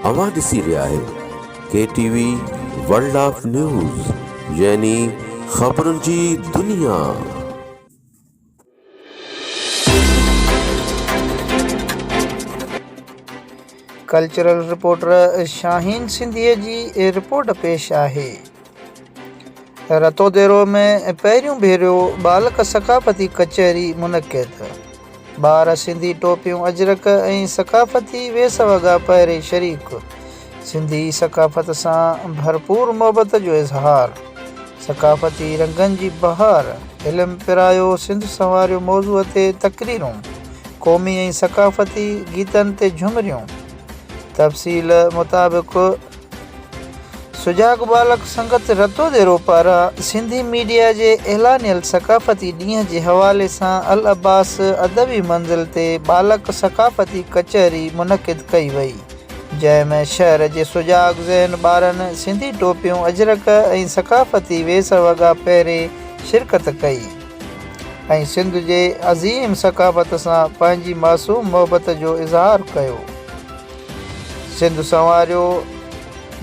اوهان ڏسي رهيا آهيو K T V world of news يعني خبرن جي دنيا. ڪلچرل رپورٽر شاهين سنڌيء جي رپورٽ پيش آهي. رتوديرو ۾ پهريون ڀيرو ٻالڪ ثقافتي ڪچهري منعقد، ٻار سنڌي ٽوپيون اجرڪ ۽ ثقافتي ويس وڳا پهري شريڪ، سنڌي ثقافت سان ڀرپور محبت جو اظهار، ثقافتي رنگن جي بهار، علم پرايو سنڌ سنواريو موضوع تي تقريرون، قومي ۽ ثقافتي گيتن تي جهمريون. تفصيل مطابق. سجاڳ ٻالڪ سنگت رتو ديرو پاران سنڌي ميڊيا جي اعلانيل ثقافتي ڏينهن جي حوالي سان العباس ادبي منزل تي ٻالڪ ثقافتي ڪچهري منعقد ڪئي وئي جنهن ۾ شهر جي سجاڳ ذهن ٻارن سنڌي ٽوپيون اجرڪ ۽ ثقافتي ويس وڳا پهري شرڪت ڪئي ۽ سنڌ جي عظيم ثقافت سان پنهنجي معصوم محبت جو اظهار ڪيو. سنڌ سنواريو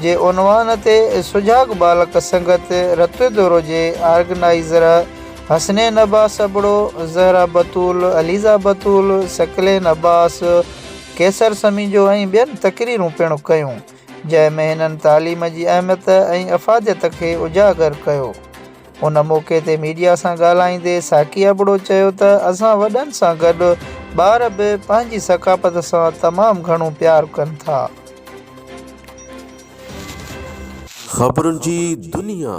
جي عنوان تي سجاڳ ٻالڪ سنگت رتوي دورو جي آرگنائيزر حسنين عباس ابڙو، زهره بتول، عليزا بتول، ثقلين عباس، قيصر سميجو ۽ ٻين تقريرون پڻ ڪيون، جنهن ۾ هنن تعليم جي اهميت ۽ افاديت کي اجاگر ڪيو. ان موقعي تي ميڊيا سان ڳالهائيندي ساقي ابڙو چيو ته اسان وڏن سان گڏ ٻار به پنهنجي ثقافت سان تمام گهڻو پيار ڪن ٿا. خبرن جي دنيا.